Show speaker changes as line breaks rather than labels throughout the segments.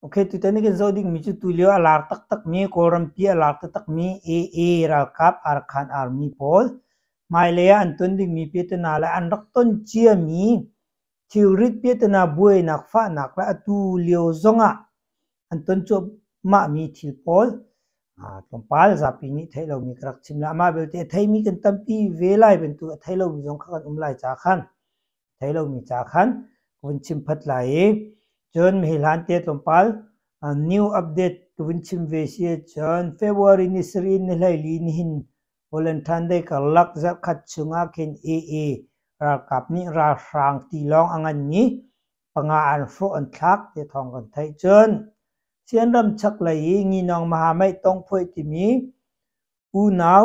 Ok, tutan kan zoh dingmi cu tulio a lar taktakmi, Kawlrampi a lar taktakmi AA ralkap Arkhan Army pawl, hmailei ah an ton dingmi piatana le an rak ton ciami thilrit piatana buainak fahnak le atu lio zongah an ton cuahmahmi thil pawl tlawmpal zapi nih theih lomi ka rak chim le amah belte a theimi kan tampi ve lai bantuk a thei lomi zong kha kan um lai caah khan thei lomi ca khan ka vun chim phot lai i cun hi hlan te tlawmpal new update ka vun chim ve si cun February ni siri ni hleili ni hin Volunteer karlak zarkhat chungah khin EE ralkap nih ralhrang ti lawng a nganmi panga an hrawh an thlak ti thawng kan theih cun sian ram chak lei i nginong maha mei tongphuai timi unau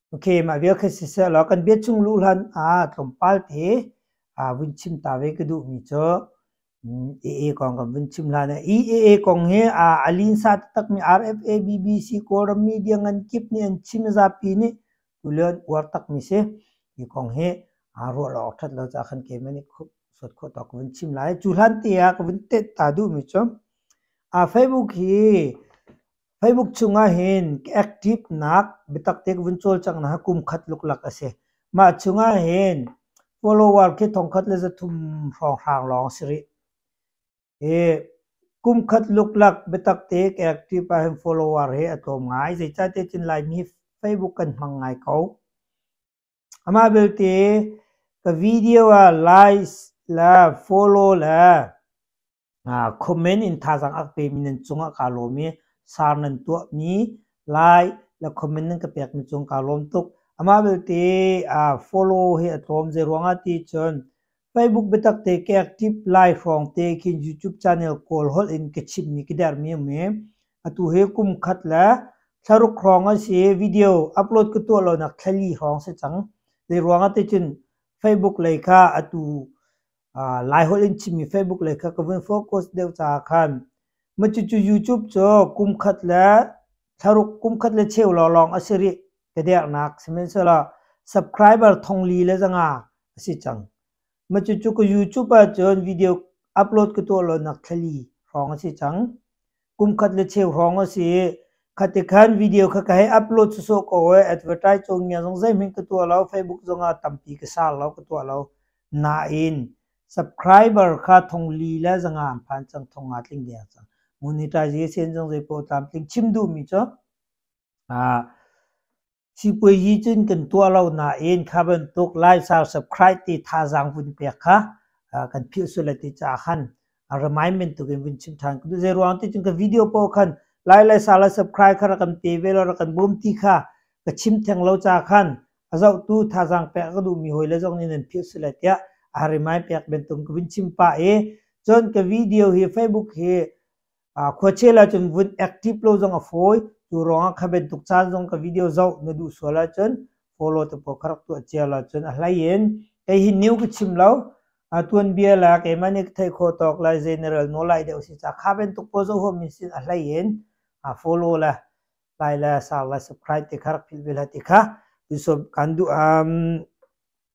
Ok, mah vial kha siseh law kan bia chung luh hlan ah tlawmpal te ah vun chim ta ve ka duh mi cu AA kong kan vun chim hlan ah EAA kong hi a linsa taktak mi RFA BBC Kawlram media ngan kip nih an chim zapi nih tulen uar tak mi si hi kong hi a ruah lo awk that lo ca khan ke mani sot kho to ka vun chim lai cu hlan te ah ka vun te ta du mi cu a Facebook hi Facebook chungah hin active nak biatak te ka vun cawl cang na kum khat luklak a si. Mah chungah hin follower khi thongkhat le zathum hrawnghrang lawng si rih. Hi kum khat luklak biatak te ka active ah hin follower he a tlawm ngai. Zeicah te cun Laimi hi Facebook kan hmang ngai ko. Amah belte ka video ah like le follow le Khua men in thazaang a ka pemi nan cungah kaa lawm i sar nan tuahmi lai le khua men nan ka pekmi cung kaa lawm tuk. Amah belte aa follow hi a tlawm. Zei ruangah ti cun Facebook biatak te ke aktiv lai hrawng te khin YouTube channel kawl holh in ka chimmi ka dermi a um i atu hi kum khat le thlaruk hrawng an si. Video upload ka tuah lonak thlali hrawng si cang. Zei ruangah ti cun Facebook lei kha atu Laiholh in chimmi Facebook le kha ka vun focus deuh caah khan mah cucu YouTube cu kum khat le thlaruk kum khat le cheu lawlawng a si rih ka dernak sihmanhsehlaw subscriber thongli le zanga a si cang. Mah cucu ka YouTube ahcun video upload ka tuah lo nak thlali hrawng a si cang. kum khat le cheu hrawng a si i khati khan video kha ka hei upload sawsawh ko e advertise cawng nia zong zeihmin ka tuah lo facebook zong ah tampi ka sar lo ka tuah lo nain subscriber kha thong li le zangam phan cang thong nga tling der cang monetize sen zong zei po tlam tling chim duh mi cu a Sipuazi cun kan tuah lo nain kha bantuk laisau subscribe ti thazaang vun pek kha kan philhsual a ti caah khan a remind bantuk in vun chim ṭhan. Zei ruang ti cun ka video paoh khan lai laisau le subscribe kha rak kan pe ve law rak kan bawm ti kha ka chim theng lo caah khan a zohtu thazaang pek a ka duhmi hawi le zong nih nan philhsual a tiah a remind pek bantuk in ka vun chim pah i cun ka video hi Facebook hi khuachel ahcun vun active lo zong a fawi cu ruangah kha bantuk caan zong ka video zoh na duh sual ahcun follow tu paw ka rak tuah cia lo cun a hlei in kei hi new ka chim lo a tuan bia la keimah nih thei kho tawk lai general no lai deuh si ca kha bantuk paw zo ho min sin a hlei in follow la like la share la subscribe te kha rak philh vel ha ti kha tu som kan duh um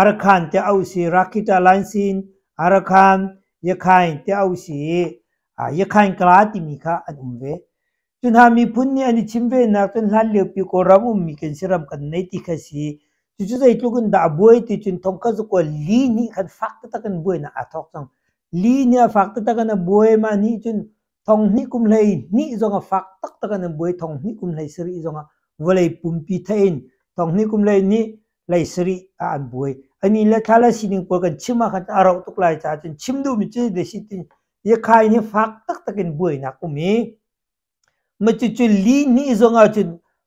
Arkhan tiah auh si Rakhitta Lainsin, Arkhan, Yakhain tiah auh si i Yakhain Kala timi kha an um ve. Cu hna miphun nih an i chim venak cun hlanliopi Kawlram ummi kan si ram kan nei ti kha si. Cucu zeitluk in dah a buai ti cun thongkhat cakuat li nih khan fak taktak in buainak aa thawk cang. Li nih a fak taktak in a buai. Mah nih cun Thonghnih kum hlei hnih zong a fak taktak an buai thonghnih kum hlei sarih zong ah vawlei pumpi thein thonghnih kum hlei hnih hlei sarih ah an buai. Ai ni le thla le sining pawl kan chim ahkhan a rauh tuk lai caah cun chim duhmi cu desi tin Yakhai nih fak taktak in buainak um i, matucu li hnih zong ah cun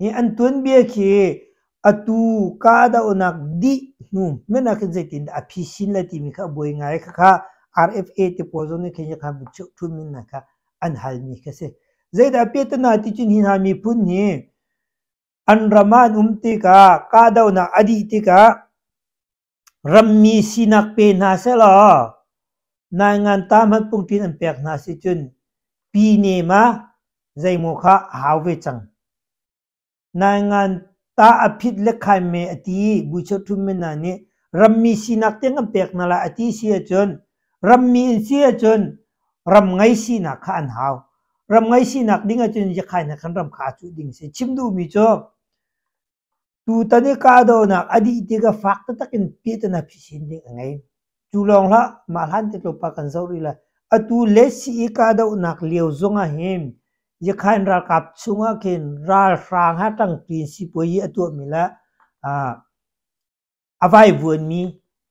hi an tuanbia khi atu kahdohnak dih hnu men ah khin zeitin dah a phi sin le timi kha a buai ngai khakha RFA te pawl zong nih khin yakha buchun min hna kha an hal mi kha si zeidah a pet na ti cun hi hna miphun hi an ram ah an um tikah kahdohnak a dih tikah Rammi sinak pe hna selaw nai ngantaa hmanh pumpi nan pek hna si cun pi ne ma zeimaw kha a hau ve cang. Nai ngantaa a phit le khai me a ti i buchawtthum men hna nih rammi sinak tiang an pek hna lai a ti si ahcun rammi an si ahcun ram ngei sinak kha an hau. Ram ngei sinak ding ahcun ziakhai na kan ram kha a cuh ding si. Chim duhmi cu Tutan i kahdohnak a dih tikah fak taktak in piahtana phisin ding a ngei. Cu lawng hlah, mah hlan te tlawp ah kan zoh rih lai. Atu le sii kahdohnak lio zongah hin Yakhain ralkap chungah khin ralhrang ha ṭangpi in sipuazi a tuahmi le aa a vaivuanmi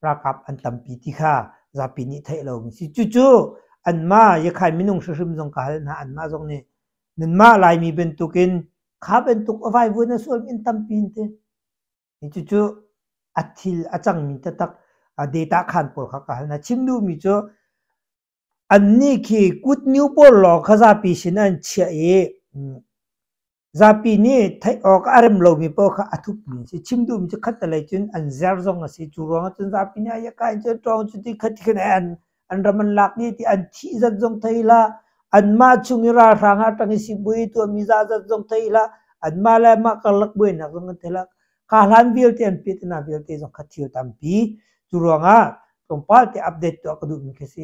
ralkap an tampi ti kha zapi nih theih lomi si. Cucu anmah Yakhai minung hrim zong ka hal hna, anmah zong nih nanmah Laimi bantukin kha bantuk a vaivuan a sual min tampi in te. Cucu a thil a cangmi taktak data khan pawl kha ka hal hna. Chim duhmi cu annih khi kut new pawl lawng khazapi sin an chiah i Zapi nih theih awk a rem lomi paoh kha a thupmi a si. Chim duhmi cu khatalei cun an zer zong a si. Cu ruangah cun zapi nih ayaka in cun ṭawng cu ti khat khin an an ram an lak dih ti an thih zat zong thei hlah. Anmah chung i ralhrang ah ṭang i sipuai i tuahmi zazat zong thei hlah. Anmah le anmah karlak buainak zong an thei hlah. Ka hlan vialte an pit hna vialte zong kha thil tampi. Cu ruangah tlawmpal te update tuah ka duhmi khi a si.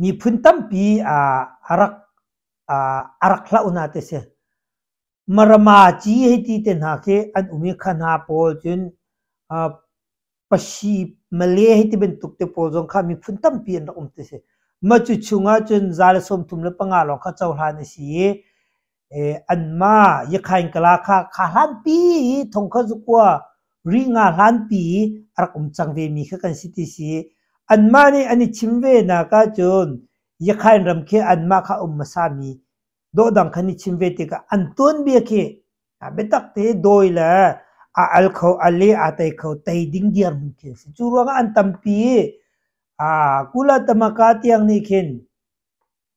Miphun tampi a rak hlah hna ti a si. Maramaci hei ti te hna khi an um i kha hna pawl cun Pashi, Malay hei ti bantuk te pawl zong kha miphun tampi an rak um ti a si. Mah cu chung ahcun za le sawmthum le panga lawng kha cohlan a si i Anmah Yakhaingkala kha kha hlanpi i thongkhat zukua ri nga hlanpi i a rak um cang vemi kha kan si ti si. Anmah nih an i chim ve nak ahcun Yakhain ram khi anmah kha um hmasami dawhdang khan i chim ve tikah an tuanbia khi biatak te dawi le a al kho a le a tei kho tei ding dirhmun khi a si. Cu ruangah an tampi i kula tamaka tiang nih khin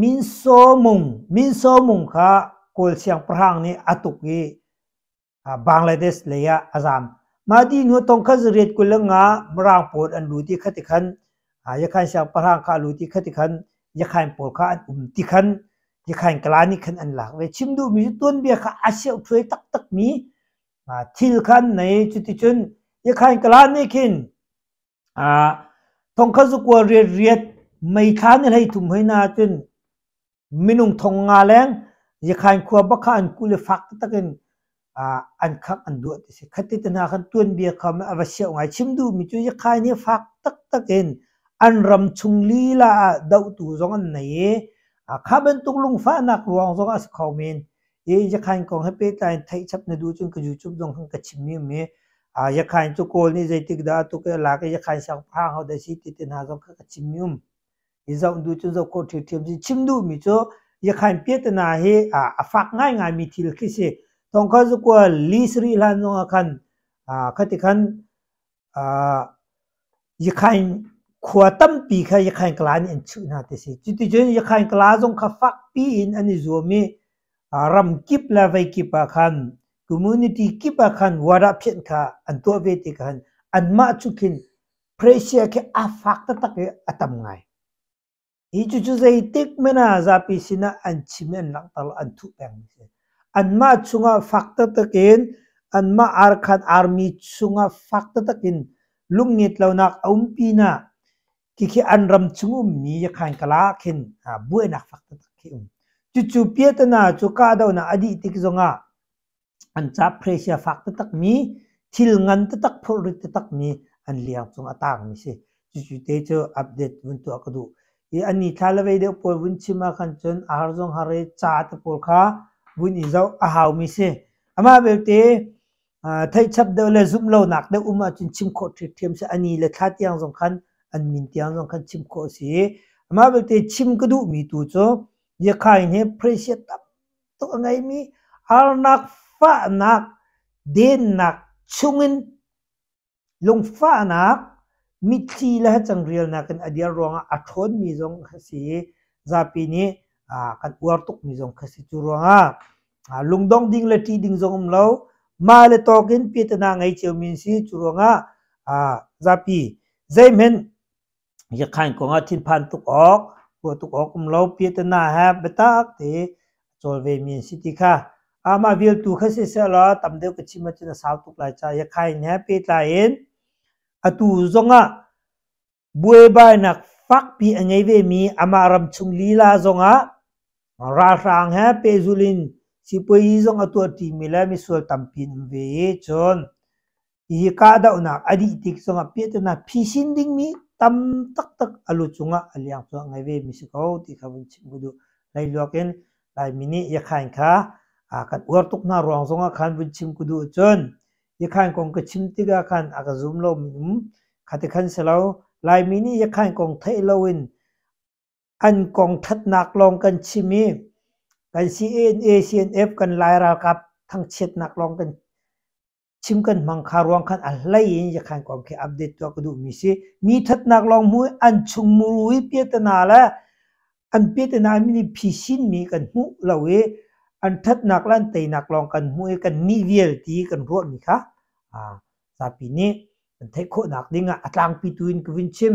Minsaw mung kha Kawl siangpahrang nih a tuk i Bangladesh lei ah a zaam. Mah ti hnu tongkhat zariat kul le nga Mirang pawl an lut i khati khan Yakhain siangpahrang kha a lut i khati khan Yakhain pawl kha an um ti khan Yakhain kala nih khan an lak ve. Chim duhmi cu tuanbia kha a seuṭhuai taktakmi thil kha an nei. Cuticun Yakhain kala nih khin Thongkhat zukual riatriat meithla nih hlei tum hoi na ahcun minung thong nga leng Yakhain khua bakha an kuh le fak taktak in an khangh an duah ti a si. Khati te hna khan tuanbia kha a va siau ngai. Chim duhmi cu Yakhain hi fak taktak in an ram chung lila ah dohtu zong an nei i kha bantuk lungfahnak ruang zong ah a si kho men. i Yakhain kong he pehtlai in theihchap na duh cun ka YouTube zong kan ka chimmi um i uh, Yakhain cu Kawl nih zeitik dah atu ke lak i Yakhain siangpahrang ho dah si ti te hna zong ka ka chimmi um i zoh duh cun zoh khawh ṭhiamṭhiam si chim duhmi cu Yakhain piatana hi uh, a fak ngaingai mi thil khi si tongkha cu kua li sri hlan zong ah khan uh, khati khan Yakhain khua tampi kha Yakhain kala nih an chuh hna ti a si. Cuticun Yakhain kala zong kha fakpi in an i zuam i ram kip le vei kip ah khan, community kip ah khan warahphenh kha an tuah ve ti kha anmah cu khin Persia khi a fak taktak i a tam ngai. Hi cucu zeitik men ah zapi sinah an chim i an langhter lo, an thuh pengmi a si. Anmah chungah fak taktak in, anmah arkhan army chungah fak taktak in lungngit lonak a um pinah khikhi an ram chung ummi yakhan kal ah khin ah buainak fak taktak khi um. Cucu piatana cu kahdohnak a dih tik zongah an caap hreisia fak taktakmi, thil ngan taktak, phurrit taktakmi an liang cung a taangmi si. Cucu te cu update vun tuah ka duh. I an ni thla le vei deuh pawl vun chim ahkhan cun ahar zong har i ca te pawl kha vun i zoh a haumi si. Amah belte theihchap deuh le zumh lonak deuh um ahcun chim khawh ṭhiamṭhiam si. A ni le thla tiang zong khan an min tiang zong khan chim khawh a si. Amah belte chim ka duhmi tu cu Yakhain hi hreisia tampi tuk a ngeimi arnak fahnak dennak chungin lungfahnak mitthli le cangrelnak in a dir ruangah a ṭhawnmi zong kha si i zapi nih kan uar tukmi zong kha si cu ruangah lungdong ding le ṭih ding zong um lo mah le tawk in piatana ngei ciomi si cu ruangah zapi zeihmenh Yakhain kong ah thinphan tuk awk, ruah tuk awk um lo. Piatana he biatak te a cawl ve mi an si ti kha amah vialtu kha si sehlaw tam deuh ka chim ahcun a sau tuk lai ca. Yakhain he pehtlai in atu zong ah buaibainak fakpi a ngei ve mi amah ramchung lila zong ah ralhrang he pehzulh in sipuazi zong a tuah ṭi mi le misual tampi an um ve i cun Hi kahdohnak a dih tik zongah pehtonah phisin dingmi tam taktak a lu cungah a liang cu a ngei vemi si ko ti kha vun chim ku duh. Leiluak in Laimi nih Iakhain kha aa kan uar tuk hna ruang zongah khan vun chim ku duh ahcun Iakhain kong ka chim tikah khan a ka zum lomi um khati khan si lo. Laimi nih Iakhain kong theih loin an kong thatnak lawng kan chim i kan CNN, ACNF, kan Lai ralkap thangchiatnak lawng kan chim kan hmang kha ruang khan a hlei in yakhan kong khi update tuah ka duh mi si mi thatnak lawng mu an chung muru i piatana le an piatana mi nih phisin mi kan hmu lo i an thatnak le an teinak lawng kan hmu i kan nih vialte kan ruah mi kha zapi nih kan theih khawhnak ding ah a tlangpi tu in ka vin chim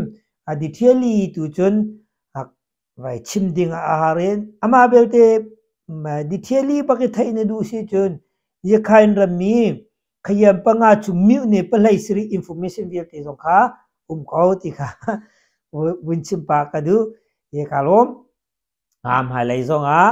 a detail tu cun vai chim ding a har in amah belte ditheli bak i theih na duh si cun Yakhain rammi khayam panga cu mih ne palei siri information vialte zong kha um ko ti kha vun chim pa ka duh ye ka lawm am hmailei zong ah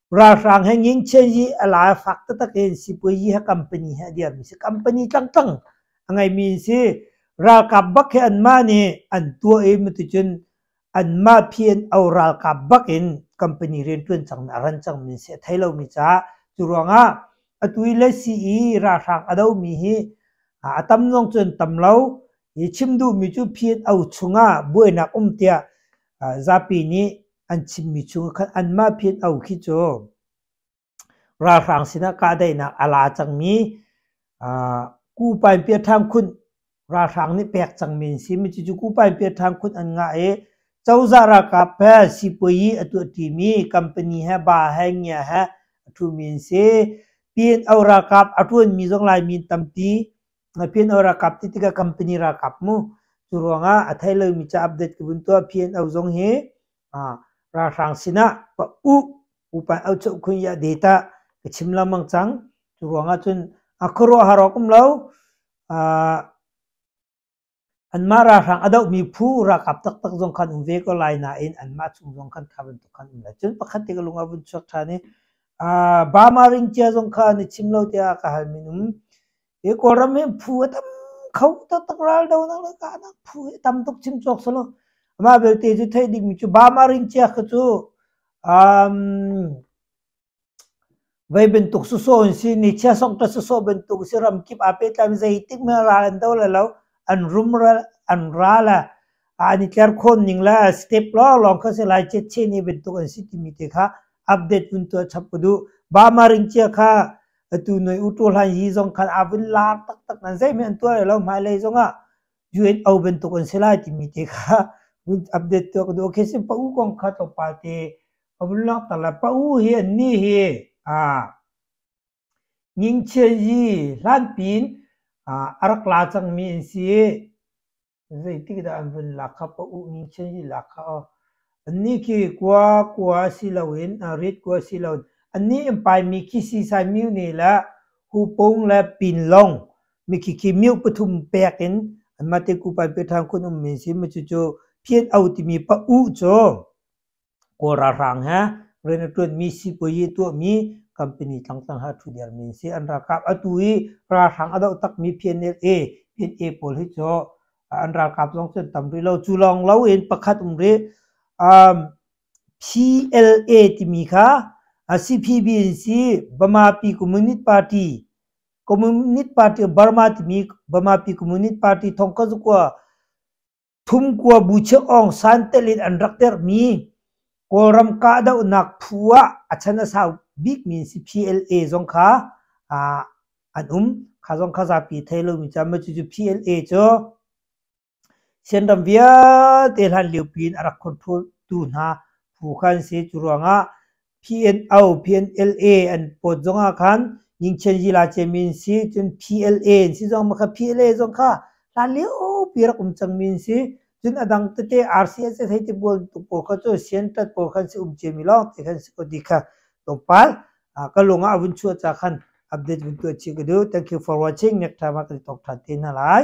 Ralhrang he ngingchia yi a la fak taktak in sipuazi he company he a dirmi si company tlangtlang a ngeimi si ralkap bak he anmah nih an tuah i mitucun anmah PNO ralkap bak in company riantuan cang a ran cang min si a thei lomi ca cu ruangah atu i le si i ralhrang a domi hi a tam nuang cun tam lo i chim duhmi cu PNO chungah buainak um tiah zapi nih an chimmi cu khan anmah phin au khi cu ralhrang sinah kahdaihnak a la cangmi kupain piathang khun ralhrang nih pek cangmi an si mi cucu kupain piathang khun an ngah i cozah ralkap he sipuai a tuahti mi company he ba he ngia he a thu mi an si pin au ralkap a tuan mi zong lai min tampi PNO ralkap ti tikah company ralkap mu cu ruangah a thei lomi ca update ka vun tuah PNO zong hi ralhrang sinah u upa au cheu khun ya data ka chim lamang cang cu ruangah cun a khuaruahhar awk um lo Anmah ralhrang a dohmi phu ralkap taktak zong khan um ve ko lai nain anmah chung zong khan kha bantuk khan um lai. Cun pakhat te ka lung a vun chuak ṭhan i uh, Burma ringcia zong khan i chim lo tiah ka hal minung hi Kawlram hi phu a tam kho taktak raldo nak le ka nak phu hi tam tuk chim cawk selaw amah belte cu theih dingmi cu Burma ringcia kha cu um, Vei bantuk sawsaw an si. Nichia sokṭa sawsaw bantuk a si. Ram kip aa pehtlaimi zeitikmah ah ra an do le lo. An rumral, an ral a, an i tlerkhawn ning le step lawnglawng kha si lai. Ciat chin i bantuk an si timi te kha update vun tuah chap u duh. Burma ringcia kha atu noi uṭu hlan hi zong khan a vun lar taktak nan zeihmanh an tuah le lo. Hmailei zong ah UNO bantuk an si lai timi te kha vun update tuah ka duh. Okay, si pa u kong kha tlawmpal te ka vun lak ta la. Pa u hi an ni hi aa ngingchia yi hlanpin aa arak la cangmi an si. Zeitik dah an vun lak kha pa u ngingchia yi lak kha aw. Annih khi kua kua si loin aa rit kua si loin annih in paimi khi sisai miu ni le hupung le pinlong mikiki myu pathum pek in anmah te kupan pe thang kun um min sim cu cu phiet au timi pa u cho kora rang ha rena tuan mi si poi tu mi company tlang tlang ha thu der min si an ra kap atu i ra rang ado tak mi phian ne e phiet e pol hi cho an ra kap zong chen tam ri lo chu long lo in pakhat um ri um PLA timi kha CPB si Burma Pi Communist Party Communist Party Burma timi Burmapi Communist Party thongka zukua thum kua bu chiah ong san telin an rak terh mi Kawlram kahdohnak phu ah a chan a sau bik mi si PLA zong kha an um kha zong kha zapi thei lo mi cu cucu PLA cu Sianram vialte hlanlio piin a rak khontu hna phu kha an si. Cu ruangah PNO, PNLA an pawt zongah khan Nyingchen Yila Ciami an si. Cun PLA an si zong kha PLA zong kha hlanlio pi rak um cangmi an si. Cun a dang tete RCSS hei ti bualtu pawl kha cu Siantat pawl kha an si um ciami lawng ti kha an si ko ti kha tlawmpal ka lung ah a vun chuah cah khan update vun tuah chih ka duh. Thank you for watching. Next time ah kan talk ṭhan te hna lai.